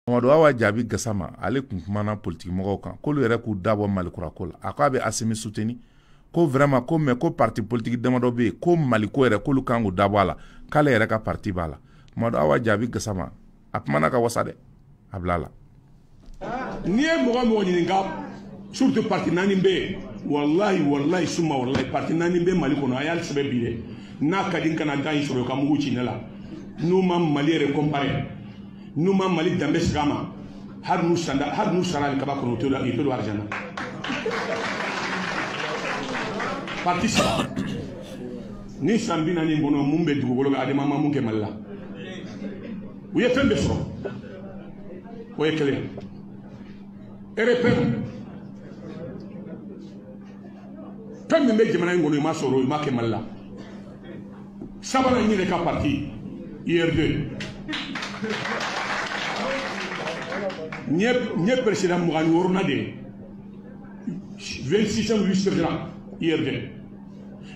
Mamadu Awa Jabi Gasama ale kun kumana politiki mɔgɔw kan k'olu yɛrɛ k'u dabɔ Malikurako la a ko a bɛ Asimi suteni ko vraiment ko mais ko parti politiki damadɔ bɛ yen ko Maliko yɛrɛ k'olu kan k'u dabɔ a la k'ale yɛrɛ ka parti b'a la Mamadu Awa Jabi Gasama a kumana ka wasa dɛ a bila la n'i ye mɔgɔ mɔgɔ ɲininka surtout parti naani bɛ yen walahi walahi suma walahi parti naani bɛ Mali kɔnɔ a y'ale sɛbɛn bi dɛ n'a ka di u ka na gan in sɔrɔ ka mugu ci ne la n'u ma Mali yɛrɛ comparer n'u ma mali danbe segin a ma hali n'u sara alikaba kɔnɔ u tɛ don arijana parti saba nin san bi naani kɔnɔ mun bɛ dugukolo kan ADEMA ma mun kɛ mali la u ye fɛn bɛɛ sɔrɔ o ye kelen RPM fɛn min bɛ jamana in kɔnɔ i ma sɔrɔ i ma kɛ mali la sabanan n yɛrɛ ka parti URD n ye peresidan mugan ni wɔɔrɔnan de ye 26e vice président URD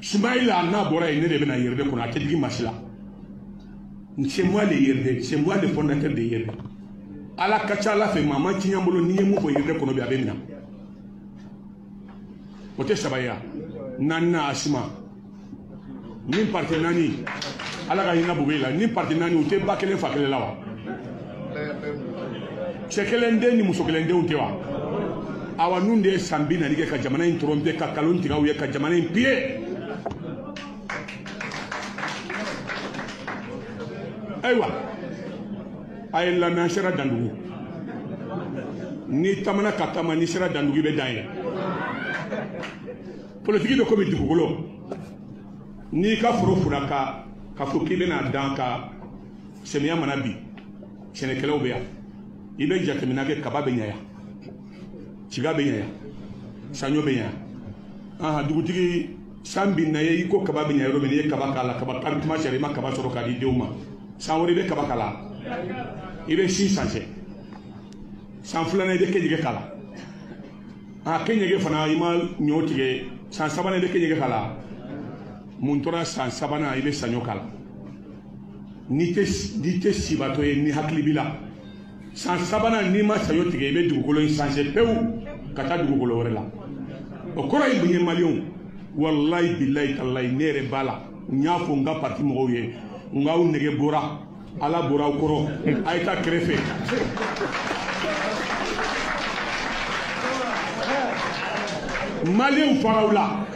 sumayila n'a bɔra yen ne de bɛna URD kɔnɔ a tɛ digi masi la c'est moi le URD c'est moi le fondateur de URD ala ka ca ala fɛ maa ma tiɲɛ n bolo n'i ye mun fɔ URD kɔnɔ bi a bɛ minɛ o tɛ saba ye wa naaninan ASMA nin parti naani ala ka hinɛ bube la nin parti naani u tɛ ba kelen fa kelen la wa cɛ kelen den ni muso kelen denw tɛ wa awa ninnu de ye san bi naani kɛ ka jamana in tɔrɔnpe ka kalon tigɛ u ye ka jamana in piye ayiwa a ye lamɛn an sera dandugu n'i taamana ka taama n'i sera dandugu i bɛ dan ye politiki bɛ komi dugukolo n'i ka foro furan ka fɔ k'i bɛna dan kɛ samiya mana bin sɛnɛkɛlaw bɛ yan i bɛ jateminɛ kɛ kaba bɛ ɲɛ yan tiga bɛ ɲɛ yan saɲɔ bɛ ɲɛ yan aha dugutigi san binna ye i ko kaba bɛ ɲɛ yɔrɔ min n'i ye kaba k'a la kaba kari tuma sera i ma kaba sɔrɔ k'a di denw ma san wɛrɛ i bɛ kaba k'a la i bɛ si sanse san filanan i bɛ kenyege k'a la a kenyege fana i ma ɲɔ tigɛ san sabanan i bɛ kenyege k'a la mun tora san sabanan i bɛ saɲɔ k'a la n'i tɛ n'i tɛ sibatɔ ye ni hakili b'i la san sabanan n'i ma saɲɔ tigɛ i bɛ dugukolo in sanse pewu ka taa dugukolo wɛrɛ la o kɔrɔ ye mun ye maliyɛnw walayi bilayi talayi ne yɛrɛ b'a la n y'a fɔ n ka parti mɔgɔw ye n k'aw nege bɔra ala bɔra aw kɔrɔ a ye taa kɛrɛfɛ maliw faraw la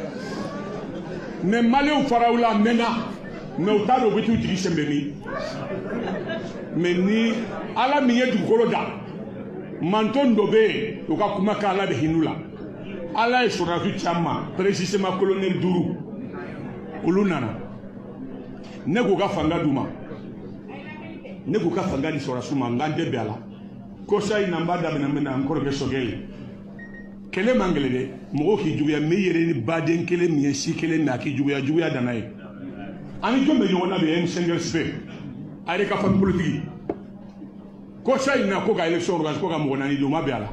mais maliw faraw la mɛnna mais u t'a dɔn u bɛ t'u jigi sɛnbɛ min mais ni ala min ye dugukolo da manton dɔ bɛ yen u ka kuma kɛ ala bɛ hin'u la ala ye sɔrɔdasiw caman précisément kolonɛli duuru olu nana ne k'u ka fanga d'u ma ne k'u ka fanga di sɔrɔdasiw ma n k'an tɛ bɛn a la kɔsa in na n b'a daminɛ min na n kɔrɔkɛ choguel ye kɛlɛ man gɛlɛn dɛ mɔgɔw k'i juguya mais i yɛrɛ ni baden kelen min ye si kelen na k'i juguya juguya danna ye ani jɔn bɛ ɲɔgɔn na bi m cinq rfp a yɛrɛ ka famille politique kɔsa in na ko ka élection organiser ko ka mɔgɔ naani di o ma bɛn a la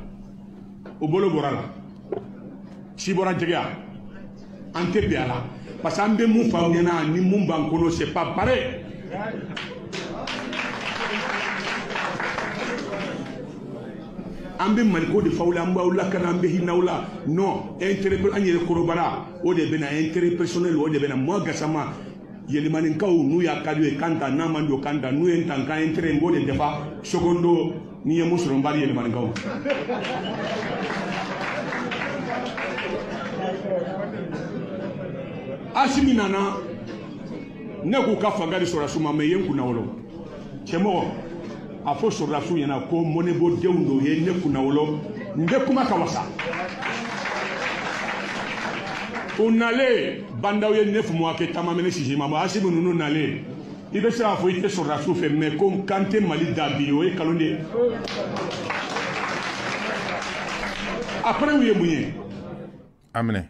o bolo bɔra la si bɔra jɛgɛya an tɛ bɛn a la parce que an bɛ mun f'aw ɲɛna ni mun b'an kɔnɔ c'est pas pareil an bɛ maliko de f'aw la an b'aw lakana an bɛ hin'aw la non intérêt an yɛrɛ kɔnɔbara o de b'an na intérêt personnel o de b'an na moi gasama yelimaninkaw n'u y'a ka d'u ye ka n ta n'a man d'u ka n ta n'u ye n ta n ka intérêt n b'o de dafa secondo n'i ye mun sɔrɔ n b'a di yelimaninkaw asimi nana ne k'u ka fanga di sɔrɔdasiw ma mais i ye n kunnawolo cɛmɔgɔ a fɔ sɔrɔdasiw ɲɛna ko mɔnɛbɔ denw don u ye ne kunnawolo n bɛ kuma ka wasa u nalen ba ndaw ye neuf mois kɛ ta ma mɛnɛ sisi ma bɔ asimi ninnu nalen i bɛ se k'a fɔ i tɛ sɔrɔdasiw fɛ mais ko kan tɛ mali da bi o ye kalon de ye après u ye mun ye a minɛ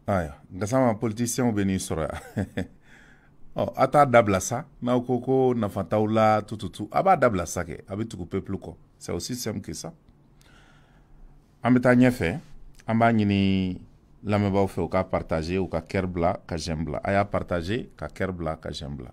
ayiwa gasama politisiyɛnw bɛ n'i sɔrɔ yan ɔ a t'a dabila sa n'aw ko ko nafa t'aw la tututu a b'a dabila sa kɛ a bɛ tugu peuple kɔ c'est aussi simple que ça an bɛ taa ɲɛfɛ an b'a ɲini lamɛnbaaw fɛ u ka partager u ka cœur bila ka j'aime bila a y'a partager ka cœur bila ka j'aime bila